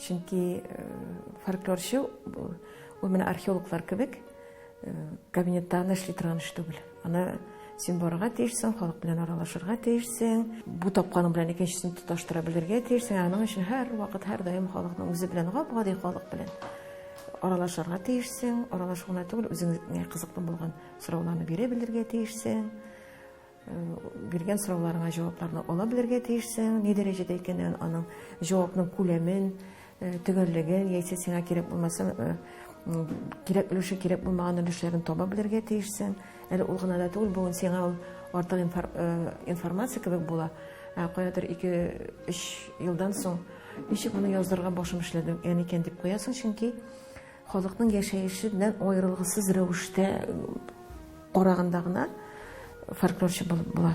Чөнки фольклорчы ул менә археологлар кебек кабинетта гына эшли торган эш түгел. Аны син барырга тиешсең, халык белән аралашырга тиешсең, бу тапканың белән икенчесен тоташтыра белергә тиешсең. Аның өчен һәр вакыт, һәр даим халыкның үзе белән гап-гади халык белән аралашырга тиешсең, аралашу гына түгел, үзеңә кызыклы булган сорауларны бирә белергә тиешсең. Биргән сорауларыңа җавапларны ала белергә тиешсең, ни дәрәҗәдә икәнен, аның җавапның күләмен, төгәллеген, яисә сиңа кирәк булмаса, кирәк өлеше кирәк булмаган өлешләрен таба белергә тиешсең. Әле ул гына да түгел, бүген сиңа ул артык информация кебек була. Ә каядыр 2-3 елдан соң ничек моны яздырырга башым эшләде, яни икән дип куясың, чөнки Халыкның яшәеше белән аерылгысыз рәвештә караганда гына фольклорчы булып була.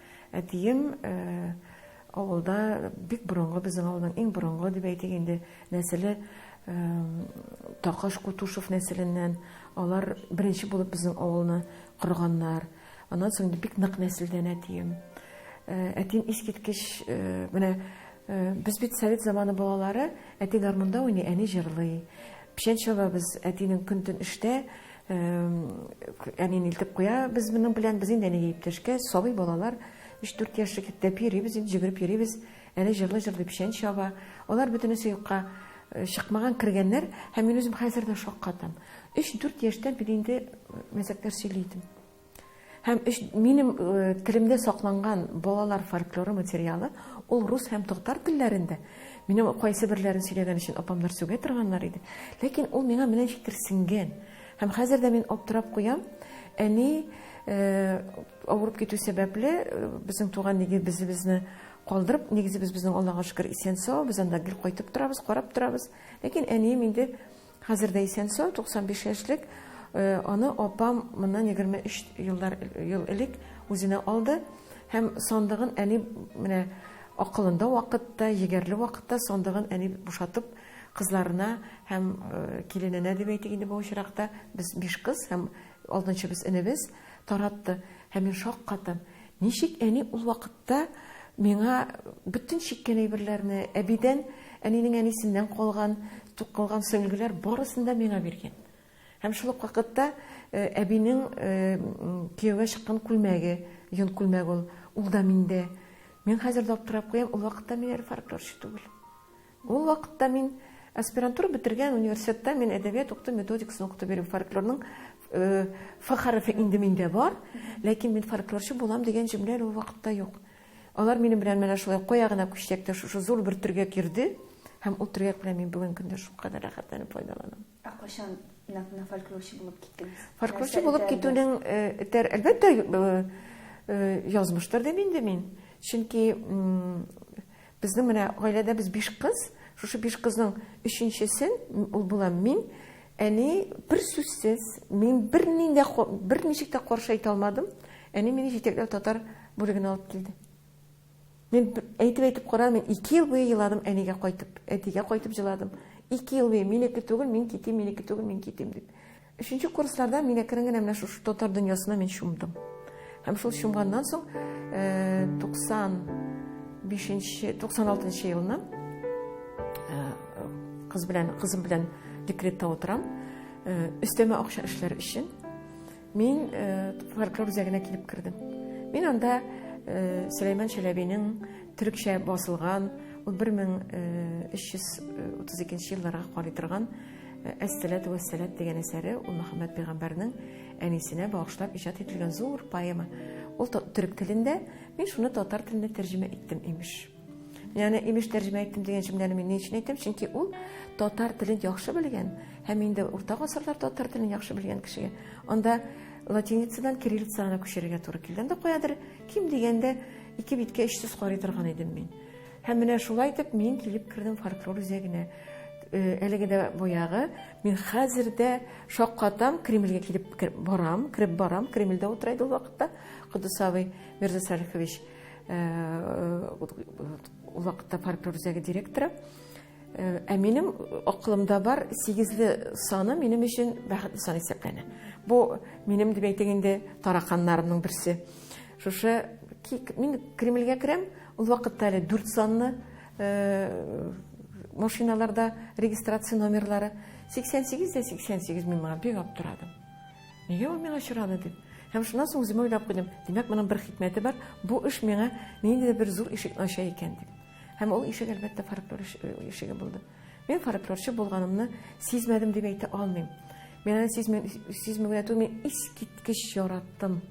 Әтием авылда бик борынгы, безнең авылның иң борынгы дип әйтик инде, нәселе Такаш Кутушев нәселеннән. Алар беренче булып безнең авылны корганнар. Аннан соң бик нык нәселдән әтием. Әтием искиткеч, менә без бит совет заманы балалары, әти гармунда уйный, әни җырлый. Печән чабабыз, әтинең көн-төн эштә, Әни нилтеп куя без моның белән, без инде әнигә иптәшкә, сабый балалар, 3-4 яшьлек иптәп йөрибез, инде җөгереп йөрибез, әни җырлый-җырлый печән чаба, алар бөтенесе юкка э, чыкмаган кергәннәр, һәм мин үзем хәзер дә шаккатам. 3-4 яшьтән мин инде мәзәкләр сөйли идем. Һәм өч, минем э, телемдә сакланган балалар фольклоры материалы, ул рус һәм татар телләрендә. Минем кайсы берләрен сөйләгән өчен апамнар сүгә торганнар иде. Ләкин ул миңа менә ничектер сиңгән. Һәм хәзер дә мин аптырап куям. Әни э, авырып китү сәбәпле э, безнең туган нигез безне калдырып, нигез без безнең Аллага шөкер исән-сау, без анда гел кайтып торабыз, карап торабыз. Ләкин әнием инде Хәзер дә исән-сау, 95 яшьлек. Аны апам моннан 23 еллар ел элек үзенә алды һәм сандыгын әни менә акылында вакытта, егәрле вакытта сандыгын әни бушатып кызларына һәм килененә дип әйтик инде бу очракта, без биш кыз һәм алтынчыбыз энебез таратты. Һәм мин шаккатым. Ничек әни ул вакытта Та миңа бөтен чиккән әйберләрне, әбидән, әнинең әнисеннән калган, тукылган сөлгеләр барысын да миңа биргән. Һәм шул ук вакытта э, әбинең э, кияүгә чыккан күлмәге, йон күлмәге ул, ул да миндә. Мин хәзер дә аптырап куям, ул вакытта мин әле фольклорчы түгел. Ул вакытта мин аспирантура бетергән университетта мин әдәбият укыту методикасын укытып йөрим. Фольклорның ф хәрефе инде миндә бар, ләкин мин фольклорчы булам дигән җөмлә ул вакытта юк. Алар минем белән менә шулай кая гына күчсәк тә шушы зур бер төргәк йөрде һәм ул төргәк белән мин бүген көндә шулкадәр рәхәтләнеп файдаланам. Ә кайчан нәкъ менә фольклорчы булып киттегез? Фольклорчы булып китүнең этәр, әлбәттә, язмыштыр дим инде мин. Чөнки безнең менә гаиләдә без биш кыз, шушы биш кызның өченчесе ул булам мин. Әни бер сүзсез, мин берни дә берничек тә каршы әйтә алмадым. Әни мине җитәкләп татар бүлегенә алып килде. Мин әйтеп-әйтеп кара, мин ике ел буе еладым әнигә кайтып, әтигә кайтып җыладым. Ике ел буе минеке түгел, мин китим, минеке түгел, мин китим дип. Өченче курсларда мин әкрен генә менә шушы татар дөньясына мин чумдым. Һәм шул чумганнан соң 95-96 э, елны э, кыз белән, кызым белән декретта утырам. Өстәмә акча эшләр өчен. Мин фольклор үзәгенә килеп кердем. Мин анда Сөләйман Чәләбинең төрекчә басылган 11332 елларга карый торган Әссәләту вәссәләт дигән әсәре ул Мөхәммәд пәйгамбәрнең әнисенә багышлап иҗат ителгән зур поэма. Ул төрек телендә, мин шуны татар теленә тәрҗемә иттем, имеш. Мин аны имеш тәрҗемә иттем дигән җөмләне мин ни өчен әйтәм? Чөнки ул татар телен яхшы белгән һәм инде урта гасырлар татар телен яхшы белгән кешегә анда латиницадан кириллицага күчерергә туры килде. Анда каядыр ким дигәндә ике биткә өч сүз карый торган идем мин. Һәм менә шулай итеп мин килеп кердем фольклор үзәгенә. Э, әлеге дә баягы мин хәзер дә шаккатам кремльгә килеп барам кереп барам кремльдә утыра иде ул вакытта кодысавый мирза салихович Узакта фольклор үзәге директоры. Ә минем акылымда бар сигезле саны минем өчен бәхетле сан исәпләнә. Бу минем дип әйтик инде тараканнарымның берсе. Шушы мин Кремльгә керәм, ул вакытта әле дүрт санны машиналарда регистрация номерлары. 88 дә 88 мин моңа бик аптырадым. Нигә ул миңа очрады дип. Һәм шуннан соң үземә уйлап куйдым, димәк, моның бер хикмәте бар, бу эш миңа ниндидер бер зур ишекне ача икән дип. Һәм ул ишек, әлбәттә, фольклор ишеге булды. Мин фольклорчы булганымны сизмәдем дип әйтә алмыйм. Мин аны сизмәгән түгел, мин искиткеч яраттым.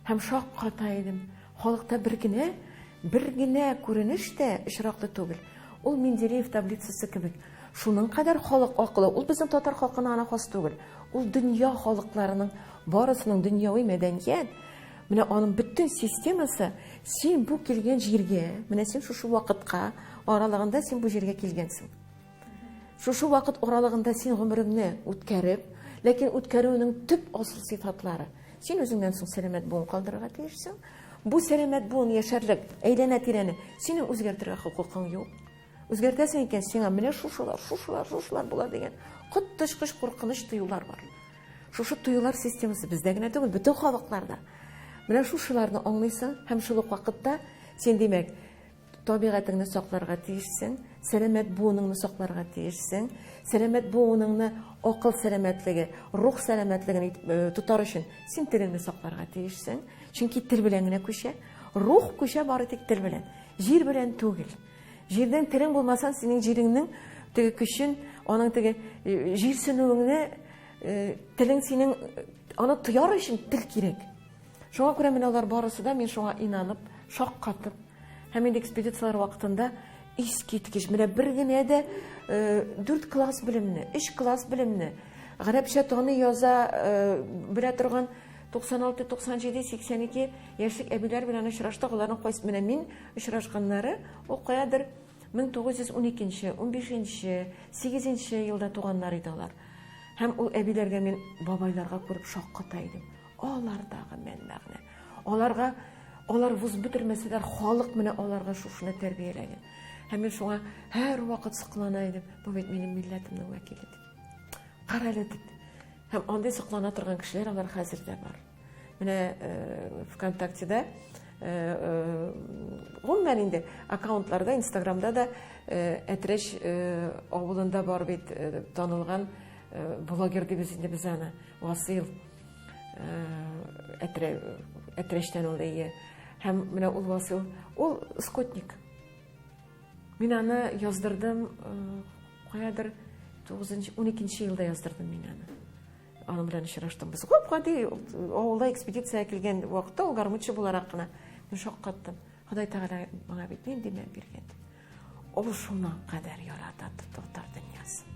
Һәм шакката идем. Халыкта бер генә, бер генә күренеш тә очраклы түгел. Ул Менделеев таблицасы кебек. Шуның кадәр халык акылы, ул безнең татар халкына гына хас түгел. Ул дөнья халыкларының барысының дөньяви мәдәният, Менә аның бөтен системасы, син бу килгән җиргә, менә син шушы вакытка аралыгында син бу җиргә килгәнсең. Шушы вакыт аралыгында син гомереңне үткәреп, ләкин үткәрүнең төп асыл сыйфатлары. Син үзеңнән соң сәламәт буын калдырырга тиешсең. Бу сәламәт буын яшәрлек әйләнә-тирәне синең үзгәртергә хокукың юк. Үзгәртәсең икән, сиңа менә шушылар, шушылар, шушылар була дигән коттышкыч куркыныч тоюлар бар. Шушы тоюлар системасы бездә генә түгел, бөтен халыкларда. Менә шушыларны аңлыйсың һәм шул ук вакытта син, димәк, Табигатеңне сакларга тиешсең, сәламәт буыныңны сакларга тиешсең. Сәламәт буыныңны акыл сәламәтлеге, рух сәламәтлеген э, тотар өчен син телеңне сакларга тиешсең. Чөнки тел белән генә күчә. Рух күчә бары тик тел белән. Җир белән түгел. Җирдән телең булмаса, синең җиреңнең теге көчен, аның теге э, җирсенүеңне э, телең синең аны тояр өчен тел кирәк. Шуңа күрә менә алар барысы да мин шуңа инанып, шаккатып, һәм инде экспедицияләр вакытында искиткеч, менә бер генә дә э, дүрт класс белемне, өч класс белемне, гарәпчә таны яза э, белә торган 96, 97, 82 яшьлек әбиләр белән очраштык, аларның кайсы менә мин очрашканнары, ул каядыр 1912, 15, 8 елда туганнар иде алар. Һәм ул әбиләргә мин бабайларга күреп шакката идем. Алардагы мән-мәгънә. Аларга алар вуз бетермәсәләр, халык менә аларга шушыны тәрбияләгән. Һәм мин шуңа һәрвакыт соклана идем. Бу бит минем милләтемнең вәкиле дип. Карале дип. Һәм андый соклана торган кешеләр алар хәзер дә бар. Менә э, ВКонтактеда э, э, гомумән инде аккаунтларда, Инстаграмда да Әтрәш авылында бар бит танылган блогер дибез инде без аны, Васил. Әтрә, әтрәштән ул әйе. Һәм менә ул Васил, ул скотник. Мин аны яздырдым, каядыр 9-нчы, 12-нче елда яздырдым мин аны. Аның белән очраштым. Без күп гади авылда экспедиция килгән вакытта ул гармунчы буларак кына мин шаккаттым. Ходай Тәгалә миңа бит нинди мәл биргән. Ул шуңа кадәр ярата татар дөньясын.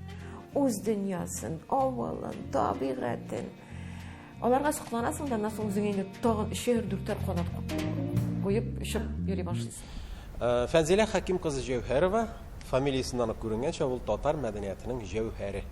Үз дөньясын, авылын, табигатен. Аларга сокланасың да, аннан үзеңә инде тагын өчәр, дүртәр канат куеп очып йөри башлыйсың. Э, Фәнзилә Хәким кызы Җәүһәрова фамилиясеннән үк күренгәнчә, ул татар мәдәниятының җәүһәре.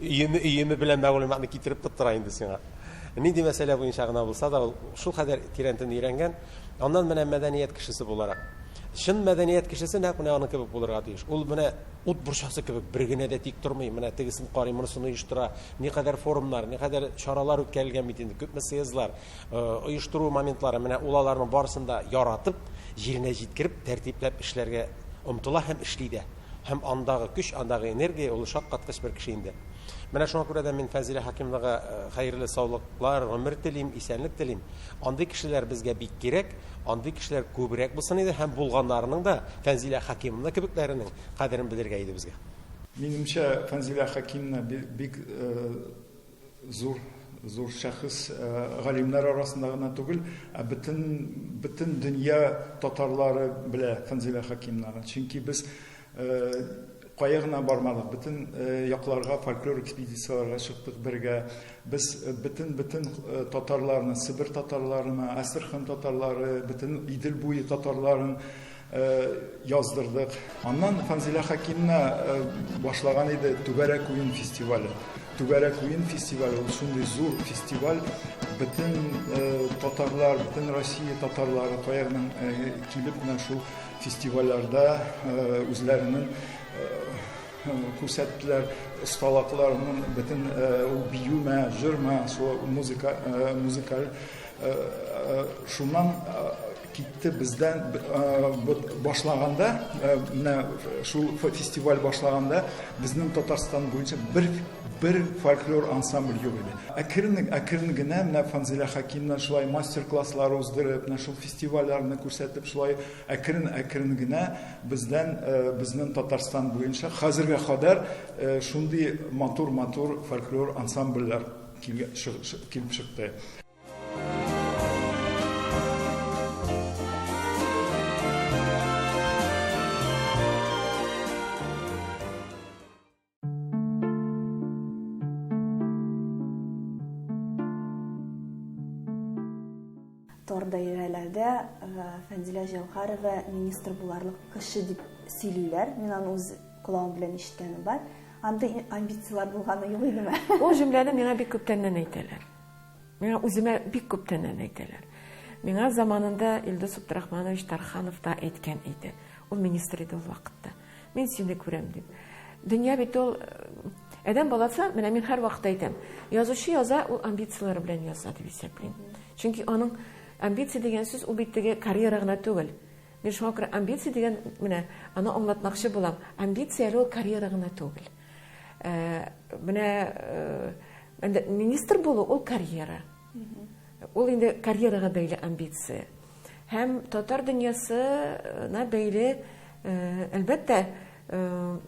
Өеме, өеме белән мәгълүматны китереп тоттыра инде сиңа. Нинди мәсьәлә буенча гына булса да, ул шул кадәр тирәнтен өйрәнгән. Аннан менә мәдәният кешесе буларак. Чын мәдәният кешесе нәкъ менә аның кебек булырга тиеш. Ул менә ут борчасы кебек бер генә дә тик тормый. Менә тегесен карый, монысын оештыра. Никадәр форумнар, никадәр чаралар үткәрелгән бит инде, күпме съездлар, оештыру моментлары. Менә ул аларның барысын да яратып, җиренә җиткереп, тәртипләп эшләргә омтыла һәм эшли дә. Һәм андагы көч, андагы энергия, ул шаккаткыч бер кеше инде. Менә шуңа күрә дә мин Фәзилә Хәкимовнага хәерле саулыклар, гомер телим, исәнлек телим. Андый кешеләр безгә бик кирәк, андый кешеләр күбрәк булсын иде һәм булганнарының да, Фәнзилә Хәкимовна кебекләренең кадерен белергә иде безгә. Минемчә, Фәнзилә Хәкимовна бик Зур зур шәхес э, галимнәр арасында гына түгел, ә бөтен бөтен дөнья татарлары белә Фәнзилә Хакимнаны. Чөнки без э, кая гына бармадык, бөтен э, якларга фольклор экспедицияләргә чыктык бергә. Без бөтен бөтен татарларны, Себер татарларына, Астрахань татарлары, бөтен Идел буе татарларын яздырдык. Аннан Фанзилә Хакимна башлаган иде Түгәрәк уен фестивале. Түгәрәк уен фестивале ул шундый зур фестиваль, бөтен татарлар, бөтен Россия татарлары каягның килеп менә шул фестивальләрдә үзләренең күрсәттеләр осталыкларын, бөтен ул биюме, җырмы, шул музыка, музыкаль. Шуннан Китте бездән башлаганда, менә шул фестиваль башлаганда, безнең Татарстан буенча бер бер фольклор ансамбль юк иде. Әкрен, әкрен генә менә Фанзилә Хакимнан шулай мастер-класслар уздырып, менә шул фестивальләрне күрсәтеп, шулай әкрен, әкрен генә бездән безнең Татарстан буенча хәзергә кадәр шундый матур-матур фольклор ансамбльләр килеп чыкты. даирәләрдә э, Фәнзилә Җәүхәрова министр буларлык кеше дип сөйлиләр. Мин аны үз колагым белән ишеткәнем бар. Андый амбицияләр булганы юк идеме? Ул җөмләне миңа бик күптәннән әйтәләр. Миңа үземә бик күптән әни әйтәләр. Миңа заманында Илдус Абдрахманович Тарханов та әйткән иде. Ул министр иде ул вакытта. Мин сине күрәм дип. Дөнья бит ул Әдәм баласы, менә мин һәр вакытта әйтәм, язучы яза, ул амбицияләре белән яза дип исәплим. Чөнки аның амбиция дигән сүз ул бит теге карьера гына түгел. Мин шуңа күрә амбиция дигән менә аны аңлатмакчы булам. Амбиция әле ул карьера гына түгел. Ә, менә ә, министр булу ул карьера. Ул инде карьерага бәйле амбиция. Һәм татар дөньясына бәйле, ә, әлбәттә, ә,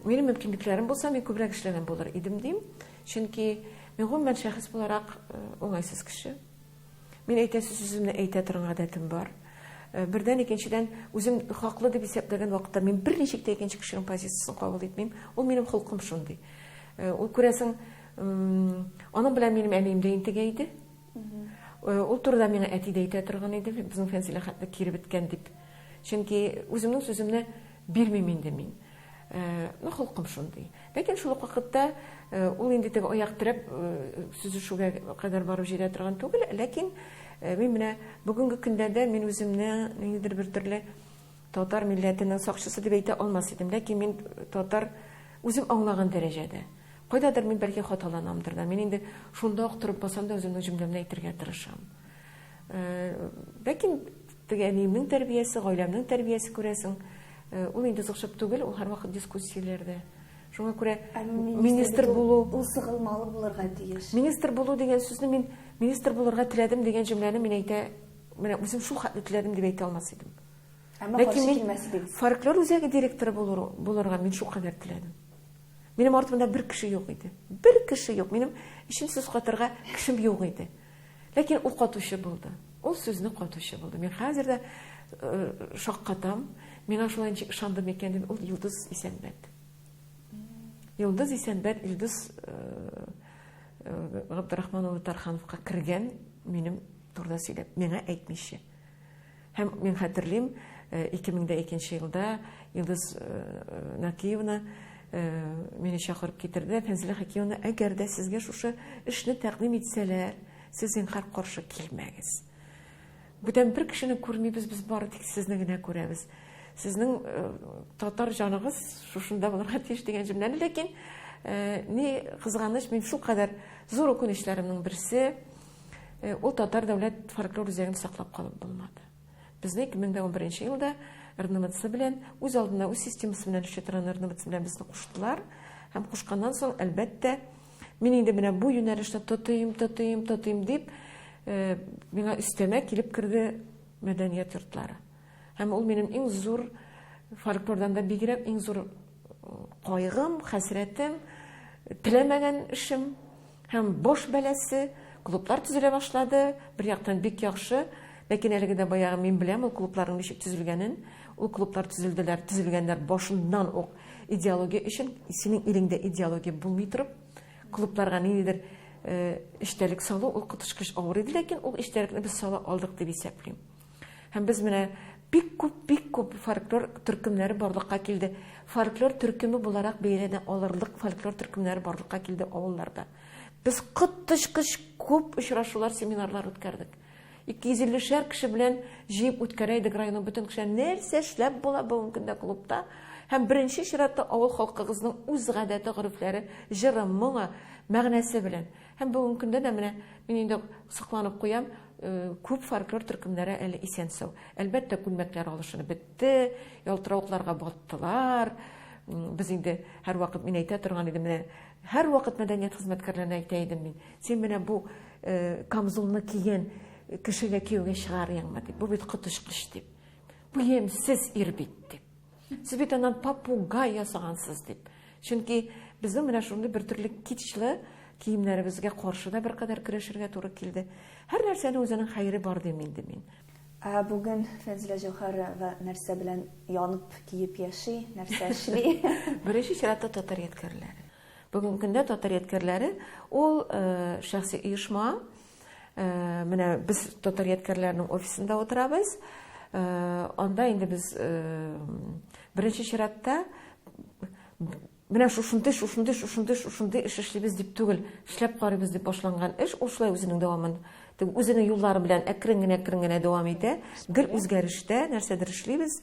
минем мөмкинлекләрем булса, мин күбрәк эшләгән булыр идем дим. Чөнки мин гомумән шәхес буларак уңайсыз кеше. Мин әйтәсе сүземне әйтә торган гадәтем бар. Э, бердән икенчедән үзем хаклы дип исәпләгән вакытта мин берничек тә икенче кешенең позициясен кабул итмим. Ул минем холкым шундый. Э, ул күрәсең, аның белән минем әнием дә интегә иде. Э, ул турыда миңа әти дә әйтә торган иде, безнең Фәнзилә хәтле кире беткән дип. Чөнки үземнең сүземне Бирмим инде мин. Ну, холкым шундый. Ләкин шул ук вакытта ул инде теге аяк терәп сөзешүгә кадәр барып җитә торган түгел, ләкин мин менә бүгенге көндә дә мин үземне ниндидер бер төрле татар милләтенең сакчысы дип әйтә алмас идем, ләкин мин татар үзем аңлаган дәрәҗәдә. Кайдадыр мин бәлки хаталанамдыр да. Мин инде шунда ук торып басам да үземнең җөмләмне әйтергә тырышам. Ләкин Теге әниемнең тәрбиясе, гаиләмнең тәрбиясе, күрәсең, ул инде узыкчып түгел, ул һәрвакыт дискуссияләрдә. Шуңа күрә министр булу, ул сыгылмалы булырга тиеш. Министр булу дигән сүзне мин министр булырга теләдем дигән җөмләне мин әйтә, менә үзем шул хәтле теләдем дип әйтә алмас идем. Әмма каршы килмәс идем. Фольклор үзәге директоры булырга мин шул кадәр теләдем. Минем артымда бер кеше юк иде. Бер кеше юк. Минем өчен сүз катырга кешем юк иде. Ләкин ул катучы булды. Ул сүзне катучы булды. Мин хәзер дә э, шаккатам. Миңа шулай ничек ышанды микән дип, ул Йолдыз Исәнбәт. Йолдыз Исәнбәт Илдус э, э, Габдрахман улы Тархановка кергән минем турыда сөйләп, миңа әйтмичә. Һәм мин хәтерлим, ике мең дә икенче елда Илдус Нәкиевна мине чакырып китерде. Фәнзилә Хәкимовна, әгәр дә сезгә шушы эшне тәкъдим итсәләр, сез зинһар каршы килмәгез. Бүтән бер кешене күрмибез, без бары тик сезне генә күрәбез. Сезнең татар җаныгыз шушында булырга тиеш дигән җөмләне, ләкин ни кызганыч, мин шул кадәр зур үкенечләремнең берсе, Э, ул татар дәүләт фольклор үзәген саклап калып булмады безне 2011 елда рнвц белән үз алдына үз системасы белән эшли торган рнвц белән безне куштылар һәм кушканнан соң әлбәттә мин инде менә бу юнәлешне тотыйм тотыйм тотыйм дип э, миңа өстәмә килеп керде мәдәният йортлары һәм ул минем иң зур фольклордан да бигрәк иң зур э, кайгым хәсрәтем теләмәгән эшем Һәм бош бәласе, клублар төзелә башлады, бер яктан бик яхшы, ләкин әлеге дә баягы мин беләм ул клубларның ничек төзелгәнен, ул клублар төзелделәр, төзелгәннәр башыннан ук идеология өчен, синең илеңдә идеология булмый торып, клубларга ниндидер эчтәлек салу ул коточкыч авыр иде, ләкин ул эчтәлекне без сала алдык дип исәплим. Һәм без менә бик күп, бик күп фольклор төркемнәре барлыкка килде. Фольклор төркеме буларак бәяләнә алырлык фольклор төркемнәре барлыкка килде авылларда. Без коточкыч күп очрашулар, семинарлар үткәрдек. 250 шәр кеше белән җыеп үткәрә идек районның бөтен кешеләр. Нәрсә эшләп була бүгенге көндә клубта? Һәм беренче чиратта авыл халкыгызның үз гадәте, горефләре, җыры, моңы, мәгънәсе белән. Һәм бүгенге көндә дә менә мин инде сокланып куям, э, күп фольклор төркемнәре әле исән-сау. Әлбәттә, күлмәкләр алышынып бетте, ялтыравыкларга баттылар. Без инде һәрвакыт мин әйтә торган идем, менә һәрвакыт мәдәният хезмәткәрләренә әйтә идем мин. Син менә бу э, камзулны кигән кешегә кияүгә чыгарыйңмы дип. Бу бит коточкыч дип. Бу ямьсез ир бит дип. Светадан попугай ясагансыз дип. Чөнки безнең менә шундый бер төрле кичле киемнәребезгә каршы да беркадәр көрәшергә туры килде. Һәр нәрсәнең үзенең хәере бар дим инде мин. Ә бүген Фәнзилә Җәүһәрова нәрсә белән янып, киеп яши, нәрсә эшли? Беренче чиратта татар ядкәрләре. Бүгенге көндә татар ядкәрләре ул э, шәхси оешма, Менә без татар ядкәрләренең офисында утырабыз. Анда инде без беренче чиратта менә шушындый, шушындый, шушындый, шушындый эш эшлибез дип түгел, эшләп карыйбыз дип башланган эш ул шулай үзенең дәвамын үзенең юллары белән әкрен генә, әкрен генә дәвам итә. Гел үзгәрештә нәрсәдер эшлибез.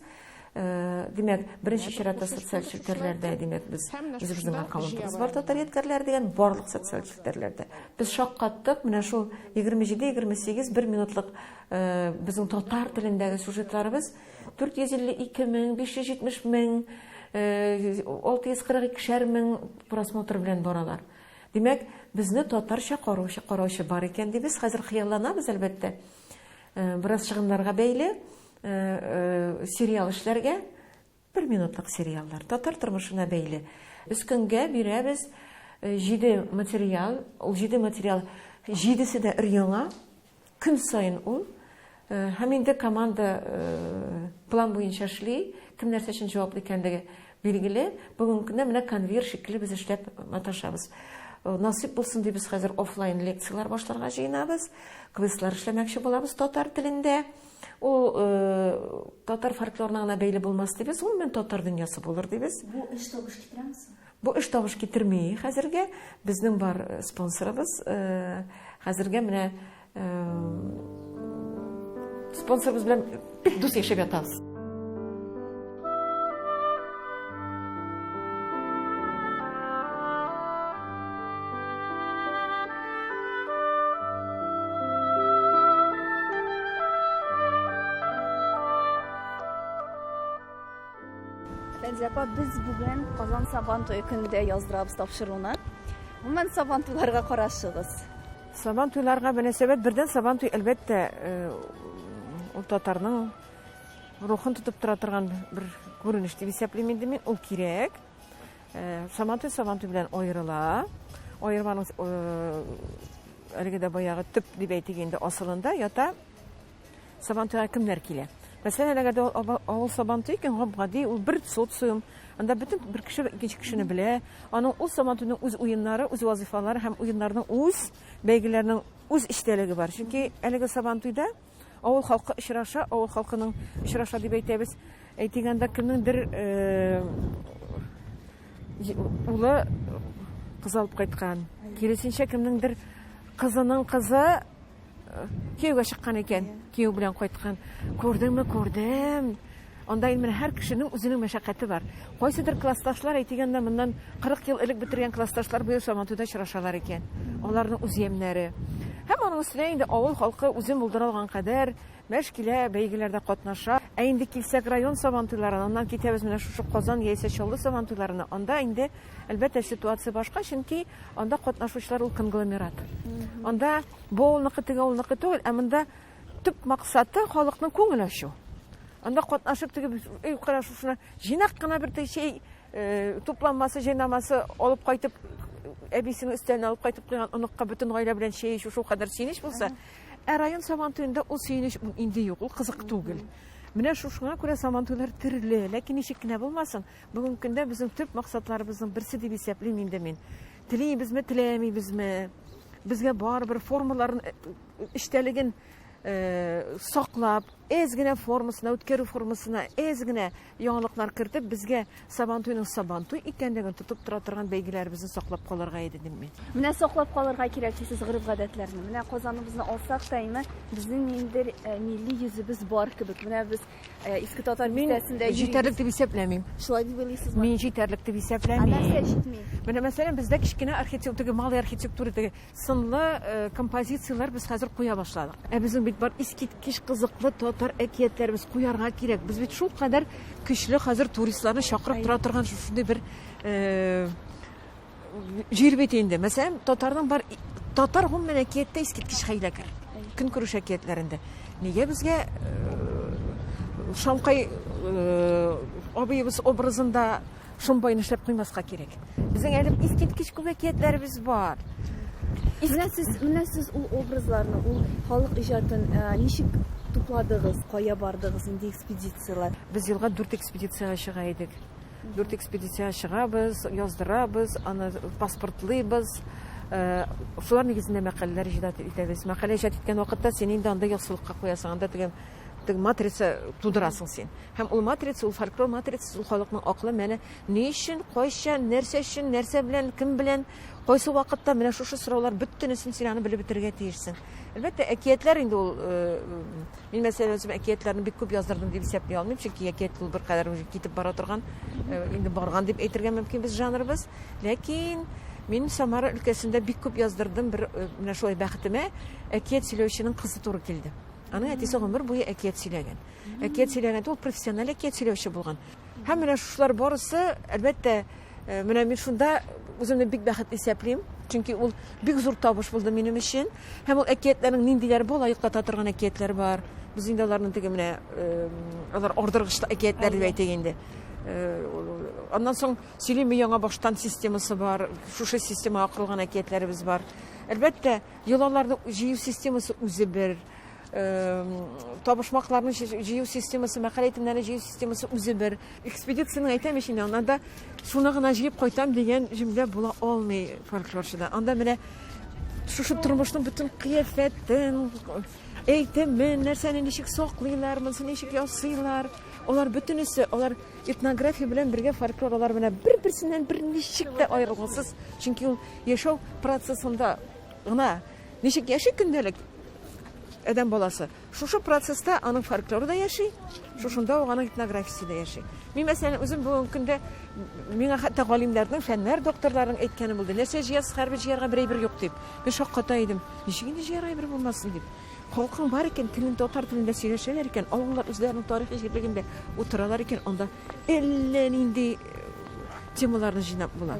Э, димәк беренче чиратта социаль челтәрләрдә димәк без үзебезнең аккаунтыбыз бар татар ядкәрләре дигән барлык социаль челтәрләрдә без шаккаттык менә шул егерме җиде егерме сигез бер минутлык э, безнең татар телендәге сюжетларыбыз дүрт йөз илле ике мең биш йөз җитмеш мең э, алты йөз кырык икешәр мең просмотр белән баралар димәк безне татарча караучы караучы бар икән дибез хәзер хыялланабыз әлбәттә бераз чыгымнарга бәйле Сериал эшләргә, бер минутлык сериаллар, татар тормышына бәйле. Без көнгә бирәбез җиде материал, ул җиде материал, җидесе дә өр-яңа, көн саен ул. Һәм инде команда план буенча эшли, кем нәрсә өчен җаваплы икәнлеге билгеле. Бүгенге көндә менә конвейер шикелле без эшләп маташабыз. Насыйп булсын дип, без хәзер офлайн лекцияләр башларга җыенабыз, квизлар эшләмәкче булабыз татар телендә. Ул э, татар фольклорына гына бәйле булмас дибез, гомумән татар дөньясы булыр дибез. Бу эш табыш китерәме соң? Бу эш табыш китерми хәзергә. Безнең бар э, спонсорыбыз. Э, хәзергә менә э, спонсорыбыз белән бик дус яшәп ятабыз. Фәнзия апа, без бүген Казан Сабан туе көндә яздырабыз тапшыруны. Гомумән Сабан туйларга карашыгыз. Сабан туйларга мөнәсәбәт бердән Сабан туй әлбәттә э, ул татарның рухын тотып тора торган бер күренеш дип исәплим инде мин ул кирәк э, сабантуй сабантуй белән аерыла аерманың э, әлеге дә баягы төп дип әйтик инде асылында ята сабантуйга кемнәр килә мәсәлән әгәр дә авыл сабантуй икән гап гади ул бер социум анда бөтен бер кеше икенче кешене белә аның ул сабантуйның үз уеннары үз вазифалары һәм уеннарның үз бәйгеләрнең үз эчтәлеге бар чөнки әлеге сабантуйда Авыл халкы очраша, авыл халкының очраша дип әйтәбез. Әйтик анда кемнеңдер улы кыз алып кайткан. Киресенчә кемнеңдер кызының кызы кияүгә чыккан икән, кияү белән кайткан. Күрдеңме, күрдем. Анда инде менә һәр кешенең үзенең мәшәкате бар. Кайсыдыр классташлар, әйтегән дә моннан 40 ел элек бетергән классташлар быел Сабантуйда очрашалар икән. Аларның үз ямьнәре. Һәм аның өстенә инде авыл халкы үзен булдыра алган кадәр мәш килә, бәйгеләрдә катнаша. Ә инде килсәк район Сабантуйларына, аннан китәбез менә шушы Казан яисә Чаллы Сабантуйларына, анда инде, әлбәттә, ситуация башка, чөнки анда катнашучылар ул конгломерат. Анда бу авылныкы, теге авылныкы түгел, ә монда, Төп максаты халыкның күңел ачу. Анда катнашып теге өй карашушына җыйнак кына бер чәй э, тупланмасы, җыйнамасы алып кайтып әбисенең өстәленә алып кайтып куйган оныкка бөтен гаилә белән чәй эчү шул кадәр сөенеч булса, ә район сабан туенда ул сөенеч инде юк, ул кызык түгел. Менә шушыңа күрә сабан туйлар төрле, ләкин ничек кенә булмасын, бүгенге көндә безнең төп максатларыбызның берсе дип исәплим инде мин. Телибезме, теләмибезме? Безгә барыбер формаларын э, эчтәлеген саклап, әз генә формасына, үткәрү формасына әз генә яңалыклар кертеп, безгә Сабантуйның Сабантуй икәнлеген тотып тора торган бәйгеләребезне саклап калырга иде дим мин. Менә саклап калырга кирәк дисез гореф-гадәтләрне. Менә Казаныбызны алсак та инде безнең ниндер милли йөзебез бар кебек. Менә без иске татар бистәсендә җитәрлек дип исәпләмим. Шулай дип уйлыйсызмы? Мин җитәрлек дип исәпләмим. Ә нәрсә җитми? Менә мәсәлән, бездә кечкенә архитектура, малый архитектура дип Сынлы композицияләр без хәзер куя башладык. Ә безнең бит бар искиткеч кызыклы татар әкиятләребез, куярга кирәк. Без бит шулкадәр көчле хәзер туристларны чакырып тора торган шушындый бер җир бит инде. Мәсәлән, татарның бар татар гомумән әкияттә искиткеч хәйләкәр. Көнкүреш әкиятләрендә. Нигә безгә Шамкай абыебыз образында Шомбай нишләп куймаска кирәк? Безнең әле искиткеч күп әкиятләребез бар. Менә сез, менә сез ул образларны, ул халык иҗатын э, ничек тупладыгыз, кая бардыгыз инде экспедицияләр? Без елга дүрт экспедициягә чыга идек. Дүрт экспедициягә чыгабыз, яздырабыз, аны паспортлыйбыз. Э, шулар нигезендә мәкаләләр иҗат итәбез. Мәкалә иҗат иткән вакытта син инде анда яссылыкка куясың, анда дигән Теге матрица тудырасың син. Һәм ул матрица, ул фольклор матрицасы, ул халыкның акылы менә ни өчен, кайчан, нәрсә өчен, нәрсә белән, кем белән, кайсы вакытта менә шушы сораулар бөтенесен син аны белеп бетерергә тиешсең. Әлбәттә, әкиятләр инде ул э, мин мәсәлән үзем әкиятләрне бик күп яздырдым дип исәпли алмыйм, чөнки әкият ул беркадәр уже китеп бара торган, э, инде барган дип әйтергә мөмкин без жанрыбыз. Ләкин Мин Самара өлкәсендә бик күп яздырдым, бер э, менә шулай бәхетемә әкият сөйләүченең кызы туры килде. Аның әтисе гомер буе әкият сөйләгән. Әкият сөйләгән, ул профессиональ әкият сөйләүче булган. Һәм менә шушылар барысы, әлбәттә, э, менә мин шунда үземне бик бәхетле исәплим, чөнки ул бик зур табыш булды минем өчен. Һәм ул әкиятләрнең ниндиләр бу, лаеклата торган әкиятләр бар. Без инде аларны теге менә э, алар ордыргыч әкиятләр дип әйтик инде. Э, аннан соң сөйлиме яңа баштан системасы бар, шушы система акырылган әкиятләребез бар. Әлбәттә, Йолаларны җыю системасы үзе бер, табышмакларны җыю системасы, мәкалә әйтемнәрен җыю системасы үзе бер. Экспедицияне әйтәм ич инде, анда шуны гына җыеп кайтам дигән җөмлә була алмый фольклорчыда. Анда менә шушы тормышның бөтен кыяфәтен, әйтемен, нәрсәне ничек саклыйлар, монысы ничек ясыйлар, алар бөтенесе, алар этнография белән бергә фольклор, алар менә бер-берсеннән берничек тә аерылгысыз, чөнки ул Яшәү процессында гына ничек яши көндәлек адәм баласы, шушы процесста аның фольклоры да яши, шушында ук аның этнографиясе дә яши. Мин, мәсәлән, үзем бүгенге көндә миңа хәтта галимнәрнең, фәннәр докторларының әйткәне булды. Нәрсә җыясыз, хәрби җыярга бер әйбер юк дип. Мин шакката идем. Ничек инде җыярга әйбер булмасын дип. Халкың бар икән, телен татар телендә сөйләшәләр икән, авыллар үзләренең тарихи җирлегендә утыралар икән, анда әллә нинди темаларны җыйнап була.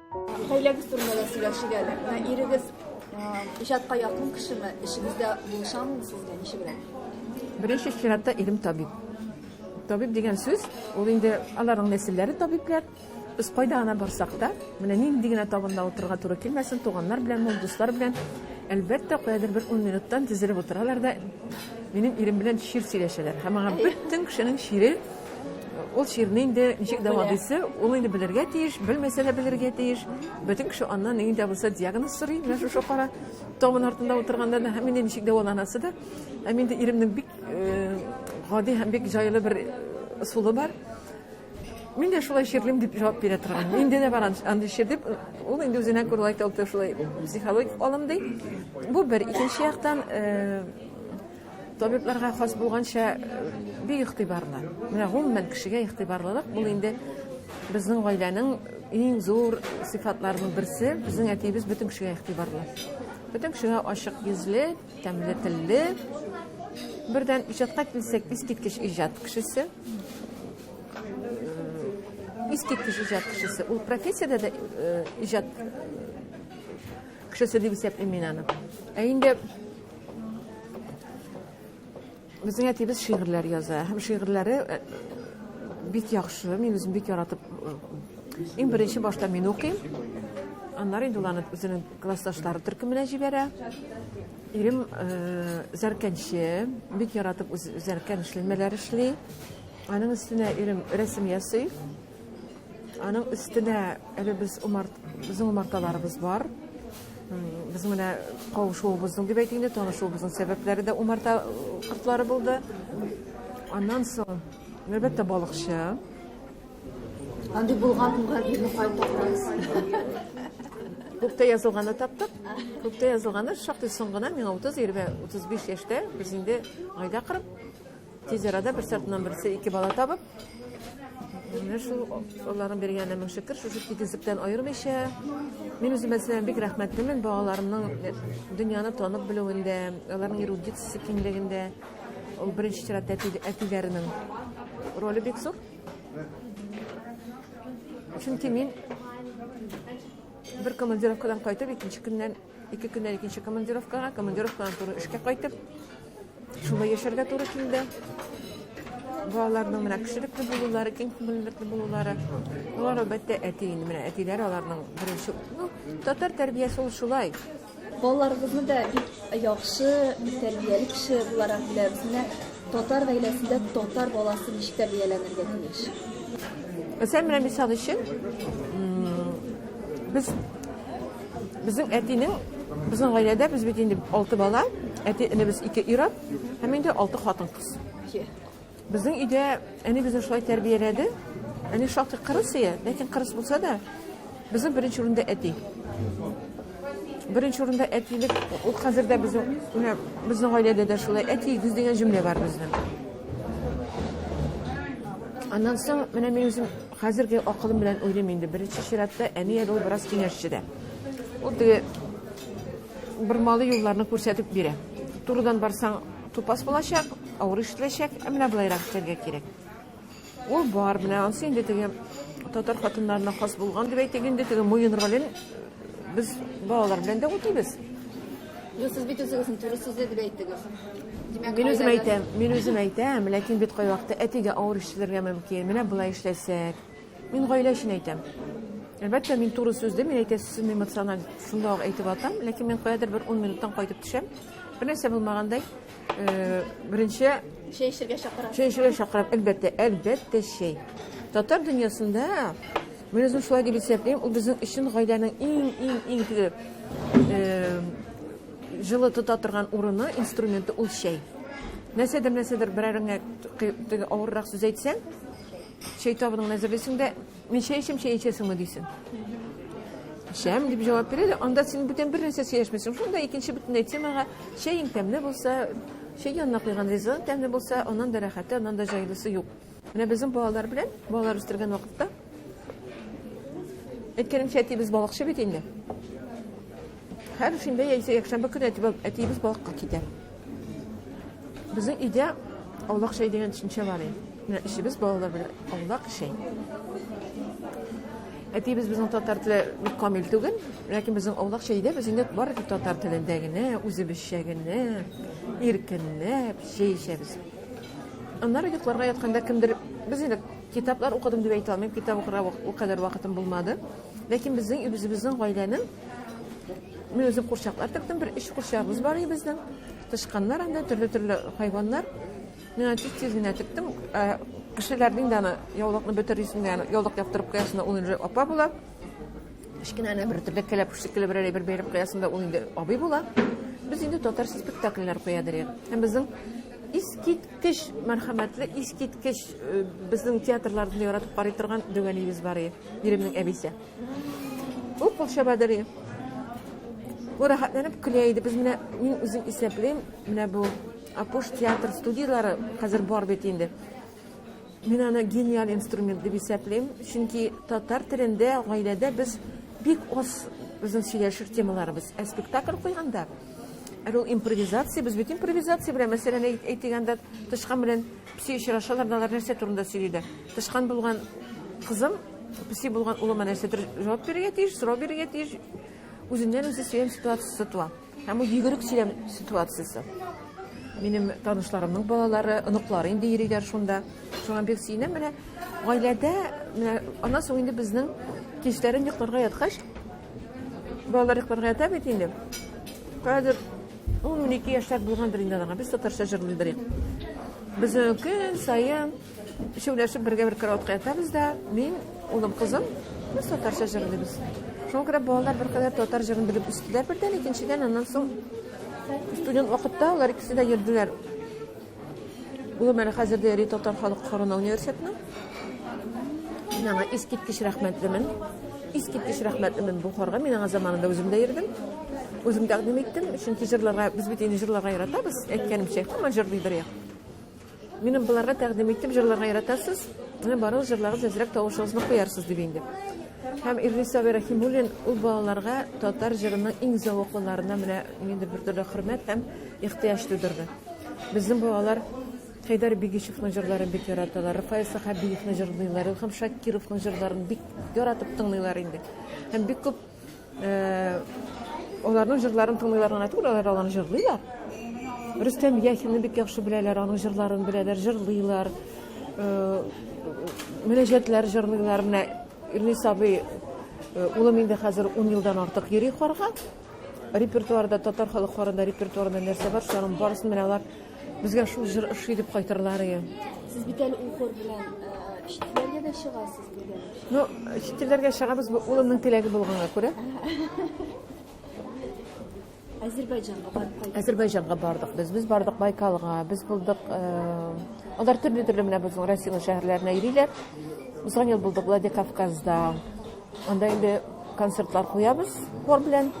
Хәйләгез турында да сөйләшик әле. Ирегез иҗатка якын кешеме? Эшегездә булышамы сезгә? Ничегрәк? Беренче чиратта ирем табиб. Табиб дигән сүз, ул инде аларның нәселләре табиблар. Без кайда гына барсак та, менә нинди генә табында утырырга туры килмәсен, туганнар белән, мул дуслар белән, әлбәттә, каядыр бер 10 минуттан тезелеп утыралар да минем ирем белән чир сөйләшәләр. Һәм аңа бөтен кешенең чире Ул чирне инде ничек дәвалыйсы, ул инде белергә тиеш, белмәсә дә белергә тиеш. Бөтен кеше аннан нинди дә булса диагноз сорый, менә шушы кара табын артында утырганда да һәм инде ничек дәваланасы да. Һәм инде иремнең бик э, гади һәм бик җайлы бер ысулы э, бар. Мин дә шулай чирлим дип җавап бирә торган. Инде дә бар андый чир дип, ул инде үзенә күрә лайк алты шулай психологик алым ди. Бу бер икенче яктан э, Табибларга хас булганча, бик игътибарлы. Менә гомумән кешегә игътибарлылык бул инде безнең гаиләнең иң зур сыйфатларының берсе. Безнең әтиебез бөтен кешегә игътибарлы. Бөтен кешегә ачык йөзле, тәмле телле. Бердән иҗатка килсәк, искиткеч иҗат кешесе. Искиткеч иҗат кешесе. Ул профессиядә дә иҗат кешесе дип исәплим мин аны. Ә инде Безнең әтибез шигырьләр яза. Һәм шигырьләре э, бик яхшы. Мин үзем бик яратып э, иң беренче башта мин укыйм. Аннары инде уланы үзенең классташлары төркеменә җибәрә. Ирем э, зәркәнче, бик яратып үз зәркән эшләмәләр эшли. Аның өстенә ирем рәсем ясый. Аның өстенә әле без умарт, безнең умарталарыбыз бар. Без менә кавышуыбызның дип әйтик инде, танышуыбызның сәбәпләре дә умарта кортлары булды. Аннан соң, әлбәттә, балыкчы. Андый булган уңга бирне кайтармас. Күктә язылганы таптык. Күктә язылганы шактый соң гына, миңа 30, 35 яшьтә, без инде гайдә кырып, Тиз арада берсе артыннан берсе ике бала табып, менә шул алланың биргәненә мең шөкер, шушы тигезлектән аермыйча, мин үземә сезгә бик рәхмәтлемен балаларымның э, дөньяны танып белүендә, аларның эрудициясе киңлегендә, ул беренче чиратта әтиләренең роле бик зур. Чөнки мин бер командировкадан кайтып, икенче көннән Ике көннән икенче командировкага, командировкадан туры эшкә кайтып, шулай яшәргә туры килде. Балаларның менә кешелекле булулары, киң күңеллекле булулары. Алар әлбәттә әти инде менә әтиләр аларның беренче, ну, татар тәрбиясе ул шулай. Балаларыбызны да бик яхшы, бик тәрбияле кеше буларак беләбез. Менә татар гаиләсендә татар баласы ничек тәрбияләнергә тиеш. Мәсәлән, менә мисал өчен, без Безнең әтинең, безнең гаиләдә без бит инде алты бала, әти энебез ике ир-ат һәм инде алты хатын-кыз. Безнең өйдә әни безне шулай тәрбияләде. Әни шактый кырыс ия, ләкин кырыс булса да, безнең беренче урында әти. Беренче урында әтилек, ул хәзер дә безнең, менә безнең гаиләдә дә шулай әти гүз дигән җөмлә бар безнең. Аннан соң менә мин үзем Хәзерге акылым белән уйлыйм инде, беренче чиратта, әни әле ул бераз киңәшче дә. Ул теге бормалы юлларны күрсәтеп бирә. Турыдан барсаң, тупас булачак, авыр ишетеләчәк, ә менә болайрак эшләргә кирәк. Ул бар, менә ансы инде теге татар хатыннарына хас булган дип әйтик инде, теге муен ролен Без балалар белән дә үтибез. Юк, сез бит үзегезнең туры сүзле дип әйттегез. Димәк, мин үзем әйтәм, мин үзем әйтәм, ләкин бит кай вакытта әтигә авыр ишетелергә мөмкин. Менә болай эшләсәк. Мин гаилә өчен әйтәм. Әлбәттә, мин туры сүзле, мин әйтә сүзен эмоциональ шунда ук әйтеп атам, ләкин мин каядыр бер 10 минуттан кайтып төшәм. Бер нәрсә булмагандай, Э, беренче чәй эчәргә чакырам. Чәй эчәргә чакырам, әлбәттә, әлбәттә чәй. Татар дөньясында мин үзем шулай дип исәплим, ул безнең өчен гаиләнең иң иң иң теге э, җылы тота торган урыны, инструменты ул чәй. Нәрсәдер нәрсәдер берәреңә теге авыррак сүз әйтсәң, чәй табының әзерлисең дә Мин чәй эчәм, чәй эчәсеңме дисен. Эчәм дип җавап бирә дә, анда син бүтән бер нәрсә сөйләшмисең. Шунда икенче бөтенләй темага чәең тәмле булса, чәй янына куйган ризыгың тәмле булса, аннан да рәхәте, аннан да җайлысы юк. Менә безнең балалар белән, балалар үстергән вакытта, әйткәнемчә, әтиебез балыкчы бит инде. Һәр шимбә яисә якшәмбе көне әтиебез балыкка китә. Безнең өйдә аулак чәй дигән төшенчә бар иде. Менә эчебез балалар белән аулак чәй. Әтиебез безнең татар теле бик камил түгел, ләкин безнең аулак чәйдә без инде бары тик татар телендә генә, үзебезчә генә, иркенләп чәй эчәбез. Аннары йокларга ятканда кемдер без инде китаплар укыдым дип әйтә алмыйм, китап укырга ул кадәр вакытым булмады. Ләкин безнең үзебезнең гаиләнең Мин үзем курчаклар тектем, бер өч курчагыбыз бар иде безнең. Тышканнар анда төрле-төрле хайваннар. Мин аны тиз-тиз генә тектем. Ә, Кешеләрнең дә аны яулыкны бөтерисен дә, яулык яптырып куясында ул инде апа була. Кечкенә генә бер төрле кәләп шикелле берәр әйбер бәйләп куясында ул инде абый була. Без инде татар спектакльләр куя дирек. Һәм безнең искиткеч мәрхәмәтле, искиткеч э, безнең театрларны яратып карый торган Дөгәниебез бар иде. Иремнең әбисе. Ук кул чабадыры. Бу рәхәтләнеп көлә иде. Без менә мин үзем исәплим, менә бу Апуш театр студияләре хәзер бар бит инде. Мин аны гениаль инструмент дип исәплим, чөнки татар телендә гаиләдә без бик аз безнең сөйләшер темаларыбыз. Ә спектакль куйганда, әле ул импровизация, без бит импровизация белән мәсьәләне әйтгәндә тычкан белән Песи очрашалар, алар нәрсә турында сөйлиләр? Тычкан булган кызым, песи булган улыма нәрсәдер җавап бирергә тиеш, сорау бирергә тиеш. Үзеннән үзе сөйләм ситуациясе туа. Һәм ул йөгерек сөйләм ситуациясе. Минем танышларымның балалары, оныклары инде йөриләр шунда. Шуңа бик сөенәм. Менә гаиләдә, менә аннан соң инде безнең кичләрен йокларга яткач, балалар йокларга ята бит инде. Кадер Ул мин ике яшьләр булгандыр инде аңа. Без татарча җырлыйбыз. Без көн саен шәүләшеп бергә бер караватка ятабыз да, мин, улым, кызым, без татарча җырлыйбыз. Шуңа күрә балалар бер кадәр татар җырын белеп үстеләр бердән, икенчедән аннан соң студент вакытта алар икесе дә йөрделәр. Гомер хәзердә йөри татар халык хорына университетны. Мин аңа искиткеч рәхмәтлемен. Искиткеч рәхмәтлемен бу хорга. Мин аңа заманында үзем дә йөрдем. Үзем тәкъдим иттем, чөнки җырларга без бит инде җырларга яратабыз, әйткәнемчә, һаман җырлый бер як. Минем боларга тәкъдим иттем, җырларга яратасыз. Менә барыгыз җырларыгыз әзрәк тавышыгызны куярсыз дип инде. Һәм Ирлис Сабир Рәхимуллин ул балаларга татар җырының иң зәвыклыларына менә нинди бер төрле хөрмәт һәм ихтыяҗ тудырды. Безнең балалар Хәйдәр Бигичевның җырларын бик яраталар, Рафаэль Сәхәбиевны җырлыйлар, Илһам Шакировның җырларын бик яратып тыңлыйлар инде. Һәм бик күп э, аларның җырларын тыңлыйлар гына түгел, алар аларны җырлыйлар. Рөстәм Яхинны бик яхшы беләләр, аның җырларын беләләр, җырлыйлар. Э, Мөнәҗәтләр җырлыйлар. Менә Ирнис абый э, улым инде хәзер 10 елдан артык йөри Харга. Репертуарда, татар халыкларында репертуарында нәрсә бар, шуларның барысын менә алар безгә шул җыр ошый дип кайтырлар иде. Сез бит әле ул хор белән э, читләргә дә чыгасыз дигән. Ну, читләргә чыгабыз, бу улымның теләге булганга күрә. Азербайҗанга бардык. Азербайҗанга бардык без. Без бардык Байкалга, без булдык. Э, алар төрле-төрле менә безнең Россиянең шәһәрләренә йөриләр. Узган ел булдык Владикавказда. Анда инде концертлар куябыз хор белән.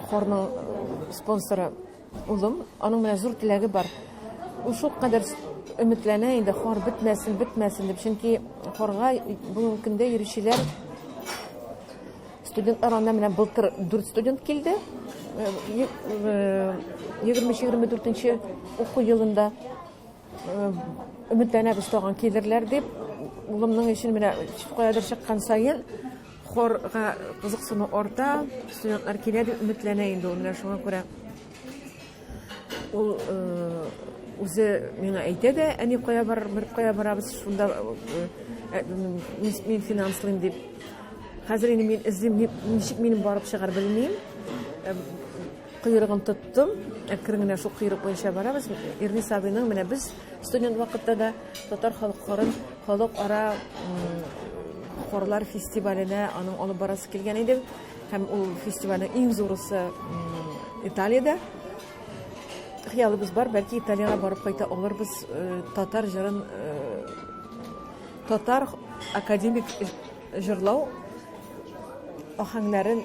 Хорның спонсоры улым. Аның менә зур теләге бар. Ул шул кадәр өметләнә инде хор бетмәсен, бетмәсен дип. Чөнки хорга бүгенге көндә йөрүчеләр студентлар анда менә былтыр 4 студент килде. 23-24 э, э, уку елында Өметләнәбез тагын килерләр дип. Улымның өчен менә каядыр чыккан саен хорга кызыксыну арта, студентлар килә дип өметләнә инде ул менә шуңа күрә. Ул үзе миңа әйтә дә, әни кая бар, бер кая барабыз, шунда мин финанслыйм дип. Хәзер инде мин эзлим, ничек минем барып чыгар белмим. Койрыгын тоттым. Әкрен генә шул койрык буенча барабыз. Ирнис абыйның менә без студент вакытта да татар халыкларын халыкара хорлар фестиваленә аның алып барасы килгән иде. Һәм ул фестивальнең иң зурысы Италиядә. Хыялыбыз бар, бәлки Италиягә барып кайта алырбыз, э, татар җырын э, татар академик җырлау ахәңнәрен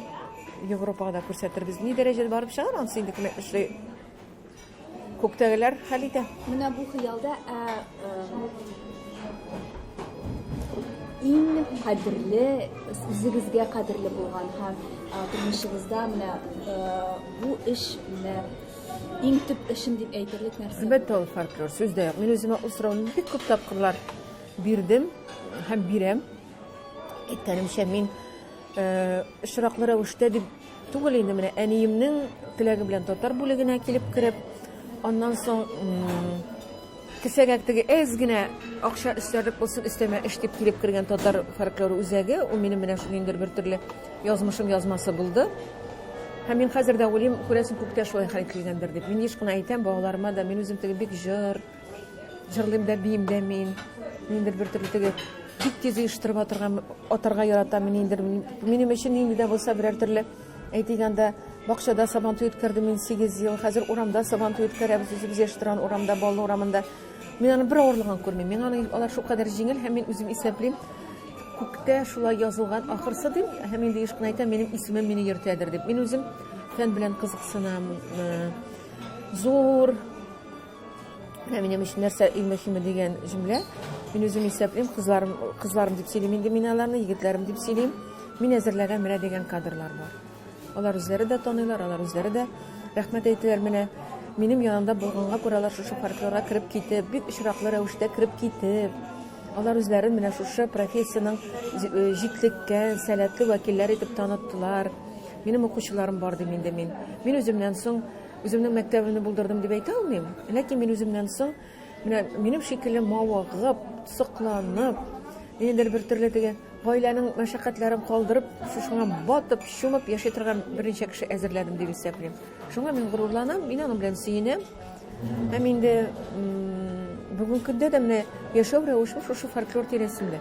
Европага да күрсәтербез. Ни дәрәҗәдә барып чыгар, анысы инде кем эшли? Күктәгеләр хәл итә. Менә бу хыялда ә, ә, иң кадерле үзегезгә кадерле булган һәм ә, тормышыгызда менә ә, бу эш менә иң төп эшем дип әйтерлек нәрсә. Әлбәттә, ул фольклор сүз дә юк. Мин үземә ул сорауны бик күп тапкырлар бирдем һәм бирәм. Әйткәнемчә, мин Очраклы рәвештә дип түгел инде, менә әниемнең теләге белән татар бүлегенә килеп кереп, аннан соң кесәгә теге әз генә акча өстәрлек булсын, өстәмә эш дип килеп кергән татар фольклор үзәге, ул минем менә шундыйдыр бер төрле язмышым язмасы булды. Һәм мин хәзер дә уйлыйм, күрәсең, күктә шулай хәл килгәндер дип. Мин еш кына әйтәм балаларыма да, мин үзем теге бик җыр, Җырлыйм да, биим дә мин. Ниндер бер төрле теге бик тиз оештырып атырга, атарга яратам мин ниндер. Минем өчен нинди дә булса берәр төрле әйтик анда бакчада сабантуй үткәрдем мин 8 ел. Хәзер урамда сабантуй үткәрәбез үзебез яшь торган урамда, Баллы урамында. Мин аның бер авырлыгын күрмим. Миңа аның алар шулкадәр җиңел һәм мин үзем исәплим. Күктә шулай язылган ахырсы дим һәм инде еш кына әйтәм, минем исемем мине йөртәдер дип. Мин үзем фән белән кызыксынам. Э, зур Менә минем өчен нәрсә иң мөһиме дигән җөмлә. Мин үзем исәплим, кызларым, кызларым дип сөйлим инде мин аларны, егетләрем дип сөйлим. Мин әзерләгән менә дигән кадрлар бар. Алар үзләре дә таныйлар, алар үзләре дә рәхмәт әйтәләр менә. Минем янымда булганга күрә алар шушы фольклорга кереп китеп, бик очраклы рәвештә кереп китеп, алар үзләрен менә шушы профессиянең җитлеккән, сәләтле вәкилләре итеп таныттылар. Минем укучыларым бар дим инде мин. Мин үземнән соң Үземнең мәктәбемне булдырдым дип әйтә алмыйм, ләкин мин үземнән соң менә минем шикелле мавыгып, сокланып, ниндидер бер төрле теге гаиләнең мәшәкатьләрен калдырып, шушыңа батып, чумып яши торган берничә кеше әзерләдем дип исәплим. Шуңа мин горурланам, мин аның белән сөенәм. Һәм инде бүгенге көндә дә менә яшәү рәвешем шушы фольклор тирәсендә.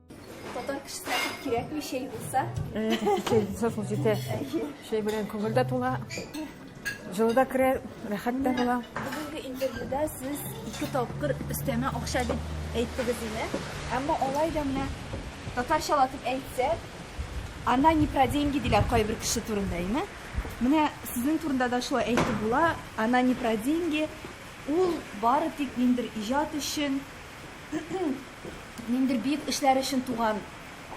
Татар кешесенә күп кирәкми чәй булса. Чәй булса шул җитә. Чәй белән күңел дә тула. Җылы да керә, рәхәт тә була. Бүгенге интервьюда сез ике тапкыр өстәмә акча дип әйттегез инде. Әмма алай да менә татарчалатып әйтсә, она не про деньги диләр кайбер кеше турында, име? Менә сезнең турында да шулай әйтеп була, она не про деньги, ул бары тик ниндер иҗат өчен Ниндидер бөек эшләр өчен туган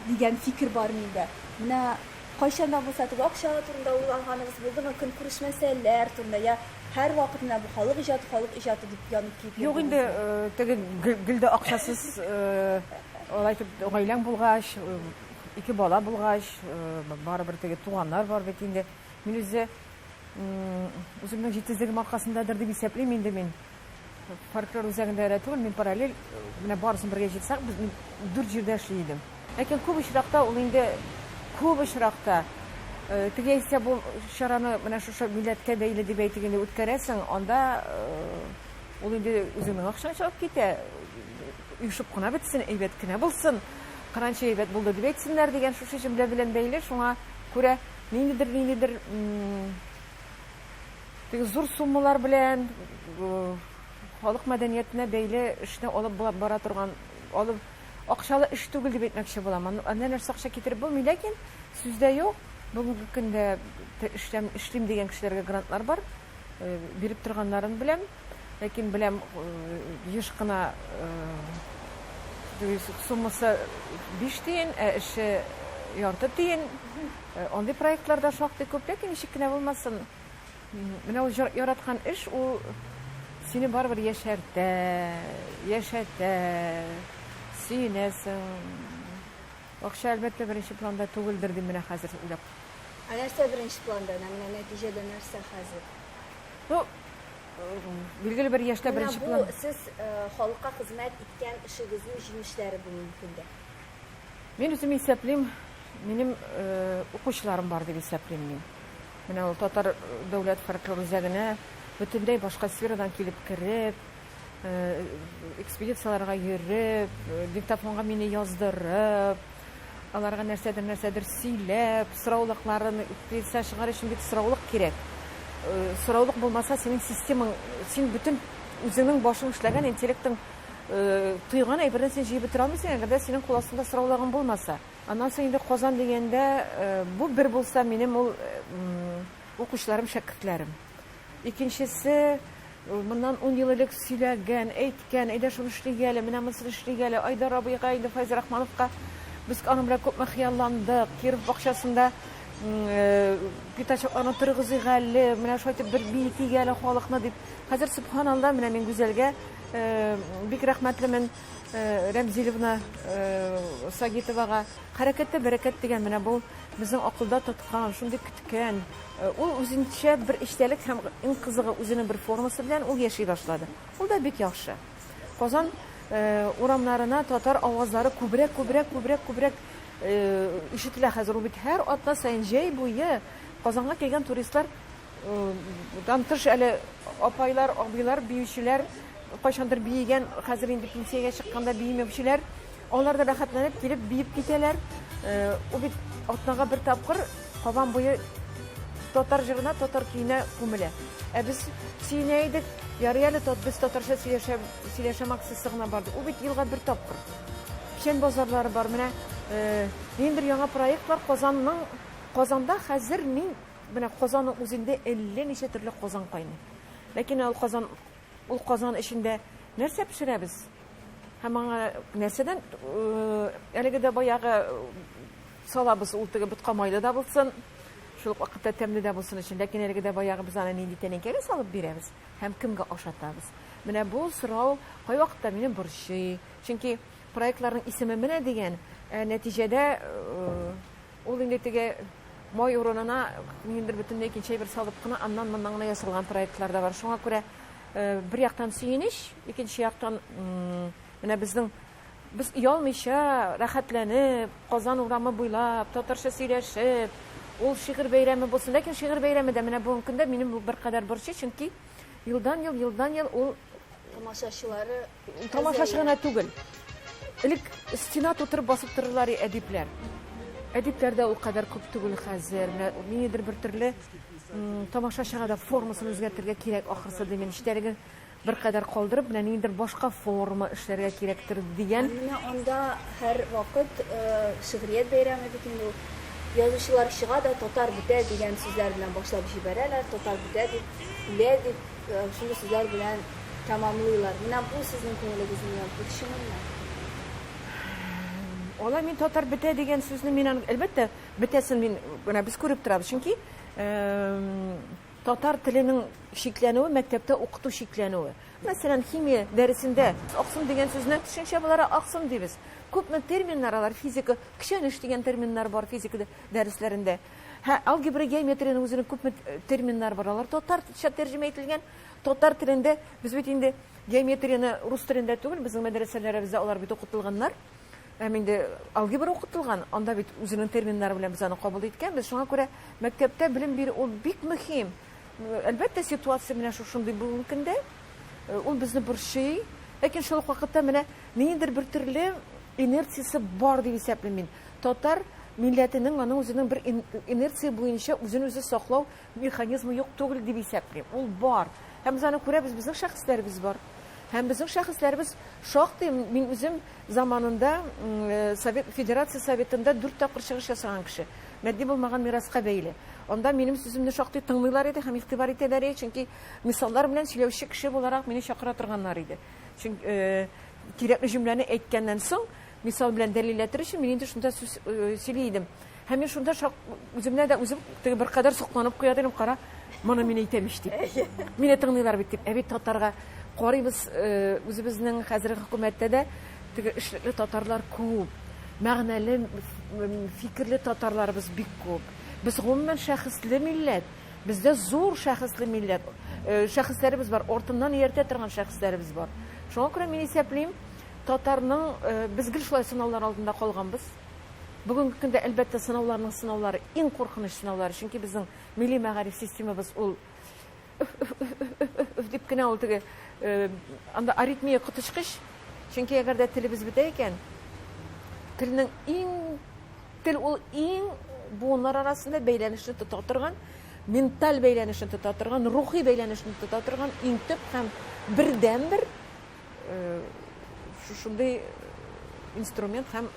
дигән фикер бар миндә. Менә кайчан да булса теге акча турында уйлаганыгыз булдымы? Көнкүреш мәсьәләләр турында я һәрвакыт менә бу халык иҗаты, халык иҗаты дип янып киеп Юк инде, теге гел дә акчасыз алай итеп гаиләң булгач, ике бала булгач, барыбер теге туганнар бар бит инде. Мин үзе үземнең җитезлегем аркасындадыр дип исәплим инде мин. Фольклор үзәгендә генә түгел, мин параллель менә барысын бергә җыйсак, без дүрт җирдә эшли идем. Ләкин күп очракта ул инде күп очракта теге яисә бу чараны менә шушы милләткә бәйле дип әйтик инде үткәрәсең, анда ул инде үзеңнең акчаң чыгып китә. Оешып кына бетсен, әйбәт кенә булсын, кыранчы әйбәт булды дип әйтсеннәр дигән шушы җөмлә белән бәйле, шуңа күрә ниндидер ниндидер теге зур суммалар белән халык мәдәниятенә бәйле эшне алып бара торган алып акчалы эш түгел дип әйтмәкче булам. Анда нәрсә акча китереп булмый, ләкин сүздә юк. Бүгенге көндә эшләм, эшлим дигән кешеләргә грантлар бар. Э, биреп торганнарын беләм. Ләкин беләм э, еш кына э, суммасы 5 тиен, ә эше ярты тиен. Андый проектлар да шактый күп, ләкин ничек кенә булмасын, менә ул яраткан эш, ул сине барыбер яшәртә, яшәтә, сөенәсең. Акча, әлбәттә, беренче планда түгелдер, дим менә хәзер уйлап. Ә нәрсә беренче планда? Менә нәтиҗәдә нәрсә хәзер? Ну, билгеле бер яшьтә беренче план. Менә бу сез халыкка хезмәт иткән эшегезнең җимешләре бүгенге көндә. Мин үзем исәплим, минем укучыларым бар дип исәплим мин. Менә ул татар дәүләт фольклор үзәгенә бөтенләй башка сферадан килеп кереп, экспедицияләргә йөреп, диктофонга мине яздырып, аларга нәрсәдер нәрсәдер сөйләп, сораулыкларын экспедиция чыгар өчен бит сораулык кирәк. Сораулык булмаса, синең системаң, син бөтен үзеңнең башың эшләгән интеллектың Тойган әйберне син җыеп бетерә алмыйсың, әгәр дә синең кул астында сораулагың булмаса. Аннан соң инде Казан дигәндә, бу бер булса минем ул укучыларым, шәкертләрем. Икенчесе, моннан ун ел элек сөйләгән, әйткән, әйдә шуны эшлик әле, менә монысын эшлик әле, Айдар абыйга, инде Файз Рахмановка. Без аның белән күпме хыялландык, Киров бакчасында пятачокларны торгызыйк әле, менә шулай итеп бер биетик әле халыкны, дип. Хәзер, сөбханалла, менә мин Гүзәлгә Бик рәхмәтлемен Рәмзилевна Сагитовага. Хәрәкәттә бәрәкәт дигән менә бу безнең акылда тоткан, шундый көткән. Ул үзенчә бер эчтәлек һәм иң кызыгы үзенең бер формасы белән ул яши башлады. Ул да бик яхшы. Казан урамнарына татар авазлары күбрәк, күбрәк, күбрәк, күбрәк ишетелә хәзер. Ул бит һәр атна саен җәй буе Казанга килгән туристлар Дан тыш әле апайлар, абыйлар, биючеләр, кайчандыр биегән, хәзер инде пенсиягә чыкканда биемәүчеләр, алар да рәхәтләнеп килеп биеп китәләр. Ул бит атнага бер тапкыр Кабан буе татар җырына, татар көенә күмелә. Ә без сөенә идек, ярый әле без татарча сөйләшә, сөйләшәм акциясе гына барды. Ул бит елга бер тапкыр. Печән базарлары бар. Менә минем бер яңа проект бар. Казанның, Казанда хәзер мин Менә казанның үзендә әллә ничә төрле казан кайный. Ләкин ул казан, ул казан эчендә нәрсә пешерәбез? Һәм аңа нәрсәдән әлеге дә баягы салабыз, ул теге ботка майлы да булсын, шул ук вакытта тәмле дә булсын өчен. Ләкин әлеге дә баягы без аны нинди тәнәкәгә салып бирәбез һәм кемгә ашатабыз? Менә бу сорау кайвакытта мине борчый. Чөнки проектларның исеме менә дигән, ә нәтиҗәдә Ул инде теге май урынына ниндидер бөтенләй икенче әйбер салып кына, аннан-моннан гына ясалган проектлар да бар. Шуңа күрә э, бер яктан сөенеч, икенче яктан менә безнең без оялмыйча, рәхәтләнеп, Казан урамы буйлап, татарча сөйләшеп, ул шигырь бәйрәме булсын. Ләкин шигырь бәйрәме дә менә бүгенге көндә минем беркадәр борчый, чөнки елдан-ел, елдан-ел ул тамашачылары Тамашачы гына түгел. Элек стена тутырып басып торырлар әдипләр. Әдипләр дә ул кадәр күп түгел хәзер. Ниндидер бер төрле тамашачыга да формасын үзгәртергә кирәк ахрысы дим. Эчтәлеген бер кадәр калдырып, менә ниндидер башка форма эшләргә кирәктер дигән. Менә анда һәр вакыт э, шигърият бәйрәме бит инде ул. Язучылар чыга да татар бетә дигән сүзләр белән башлап җибәрәләр. Татар бетә дип, үлә дип. Шундый сүзләр белән тәмамлыйлар. Менә бу сезнең күңелегезне ярты кешенеңме? Алай мин татар бетә дигән сүзне мин аны, әлбәттә, бетәсен мин менә без күреп торабыз, чөнки татар теленең чикләнүе мәктәптә укыту чикләнүе. Мәсәлән, химия дәресендә аксым дигән сүзне төшенчә буларак аксым дибез. Күпме терминнар алар физика, көчәнеш дигән терминнар бар физика дәресләрендә. Һә алгебра, геометриянең үзенең күпме терминнары бар, алар татарча тәрҗемә ителгән, татар телендә, без бит инде геометрияне рус телендә түгел, безнең мәдрәсәләребездә алар бит укытылганнар, һәм инде алгебра укытылган, анда бит үзенең терминнары белән без аны кабул иткәнбез, шуңа күрә мәктәптә белем бирү ул бик мөһим. Әлбәттә, ситуация менә шушындый бүгенге көндә, э, ул безне борчый, ләкин шул ук вакытта менә ниндидер бер төрле инерциясе бар дип исәплим мин. Татар милләтенең аның үзенең бер инерция буенча үзен-үзе саклау механизмы юк түгел дип исәплим. Ул бар. Һәм без аны күрәбез, безнең шәхесләребез бар. Һәм безнең шәхесләребез шактый, мин үзем заманында Совет Федерация Советында дүрт тапкыр чыгыш ясаган кеше. Матди булмаган мираска бәйле. Анда минем сүземне шактый тыңлыйлар иде һәм игътибар итәләр иде, чөнки мисаллар белән сөйләүче кеше буларак мине чакыра торганнар иде. Чөнки кирәкле җөмләне әйткәннән соң, Мисал белән дәлилләтер өчен мин инде шунда сүз э, сөйли идем. Һәм мин шунда шак, үземне дә үзем теге бер кадәр сокланып куя идем, кара, моны мин әйтәм ич дип. Мине тыңлыйлар бит дип. Ә бит татарга карыйбыз, э, үзебезнең хәзерге хөкүмәттә дә теге эшлекле татарлар күп. Мәгънәле, фикерле татарларыбыз бик күп. Без гомумән шәхесле милләт. Бездә зур шәхесле милләт. Э, шәхесләребез бар, ортыннан ияртә торган шәхесләребез бар. Шуңа күрә мин исәплим, Татарның без гел шулай сынаулар алдында калганбыз. Бүгенге көндә, әлбәттә, сынауларның сынаулары, иң куркыныч сынаулары, чөнки безнең милли мәгариф системабыз ул дип кенә ул теге анда аритмия коточкыч, чөнки әгәр дә телебез бетә икән, телнең иң тел ул иң буыннар арасында бәйләнешне тота торган, менталь бәйләнешне тота торган, рухи бәйләнешне тота торган иң төп һәм бердәнбер шушындый инструмент һәм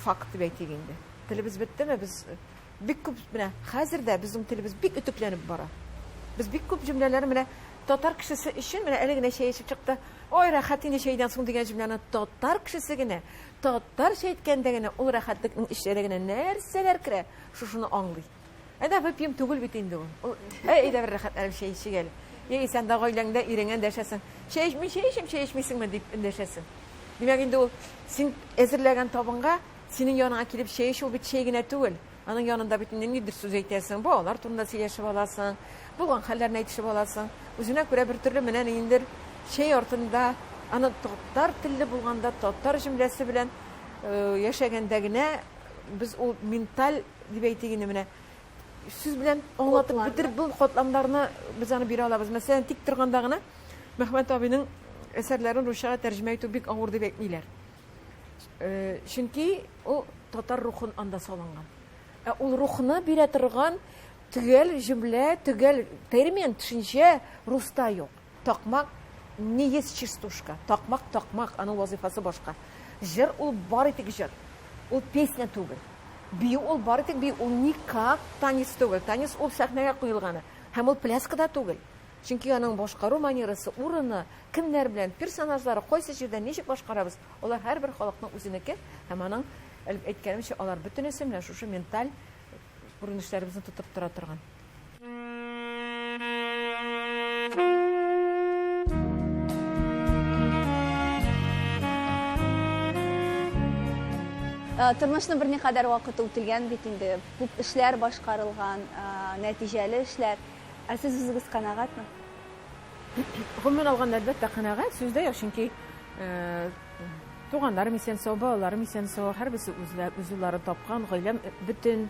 факт дип әйтик инде телебез беттеме без бик күп менә хәзер дә безнең телебез бик өтекләнеп бара без бик күп җөмләләр менә татар кешесе өчен менә әле генә чәй эчеп чыкты ой рәхәт инде чәйдән соң дигән җөмләне татар кешесе генә татарча әйткәндә генә ул рәхәтлекнең эченә генә нәрсәләр керә шушыны аңлый Әнә выпьем түгел бит инде ул. Ул әй дә бер рәхәтләнеп чәй эчик әле. Яисә анда гаиләңдә иреңә дәшәсең. Чәй эчми, чәй эчим, чәй эчмисеңме дип дәшәсең. Димәк инде ул син әзерләгән табынга синең яныңа килеп чәй эчү бит чәй генә түгел. Аның янында бит инде нидер сүз әйтәсең, балалар турында сөйләшеп аласың, булган хәлләрне әйтешеп аласың. Үзенә күрә бер төрле менә ниндер чәй артында аны татар телле булганда татар җөмләсе белән э, яшәгәндә генә без ул менталь Дип әйтик инде менә. Сүз белән аңлатып бетереп бул катламнарны без аны бирә алабыз. Мәсәлән, тик торганда гына Мәхмәт абыйның әсәрләрен русчага тәрҗемә итү бик авыр дип әйтмиләр. Э, чөнки ул татар рухын анда салынган. Ә ул рухны бирә торган төгәл җөмлә, төгәл термин, төшенчә руста юк. Такмак не есть частушка. Такмак, такмак, аның вазыйфасы башка. Җыр ул бары тик җыр. Ул песня түгел. Бию ул бары тик бию, ул никак танец түгел. Танец ул сәхнәгә куелганы. Һәм ул пляска да түгел. Чөнки аның башкару манерасы, урыны, кемнәр белән, персонажлары, кайсы җирдә ничек башкарабыз, алар һәрбер халыкның үзенеке һәм аның әйткәнемчә, алар бөтенесе менә шушы менталь күренешләребезне тотып тора торган. Э, тормышны берникадәр вакыт үтелгән бит инде күп эшләр башкарылган э, нәтиҗәле эшләр ә сез үзегез канәгатьме гомумән алганда әлбәттә канәгать сүздә юк чөнки э, туганнарым исән сау балаларым исән сау һәрберсе үзләрен тапкан гаиләм бөтен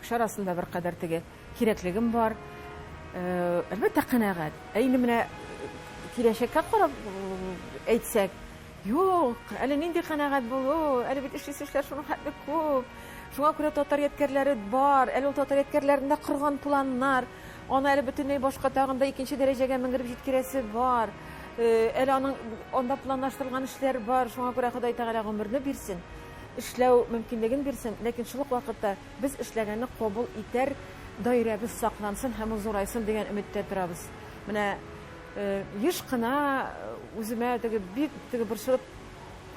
Кеше арасында беркадәр теге кирәклегем бар. Әлбәттә, канәгать. Ә инде менә киләчәккә карап әйтсәк, Юк, әле нинди канәгать булу, әле бит эшлисе эшләр шуның хәтле күп. Шуңа күрә татар ядкәрләре бар, әле ул татар ядкәрләрендә корган планнар, аны әле бөтенләй башка тагын да икенче дәрәҗәгә менгереп җиткерәсе бар. Э, әле аның анда планлаштырылган эшләр бар, шуңа күрә Ходай Тәгалә гомерне бирсен. эшләү мөмкинлеген бирсен, ләкин шул ук вакытта без эшләгәнне кабул итәр даирәбез саклансын һәм ул зурайсын дигән өметтә торабыз. Менә еш кына үземә теге бик теге борчылып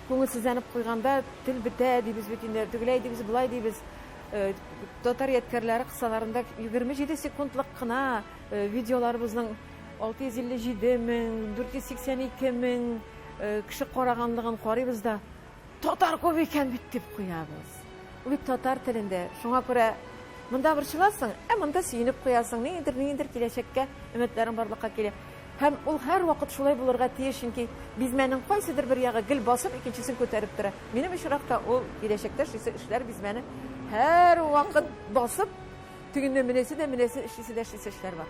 күңелсезләнеп куйганда тел бетә дибез бит инде, тегеләй дибез, болай дибез. Э, татар ядкәрләре кысаларында 27 секундлык кына э, видеоларыбызның 657 мең, 482 мең э, кеше караганлыгын карыйбыз да, Татар күп икән бит, дип куябыз. Ул бит татар телендә. Шуңа күрә монда борчыласың, ә монда сөенеп куясың. Ниндидер, ниндидер киләчәккә өметләрең барлыкка килә. Һәм ул һәрвакыт шулай булырга тиеш, чөнки бизмәнең кайсыдыр бер ягы гел басып, икенчесен күтәреп тора. Минем очракта ул киләчәктә эшлисе эшләр бизмәне һәрвакыт басып, тегеннән менәсе дә, менәсе эшлисе дә эшлисе эшләр бар.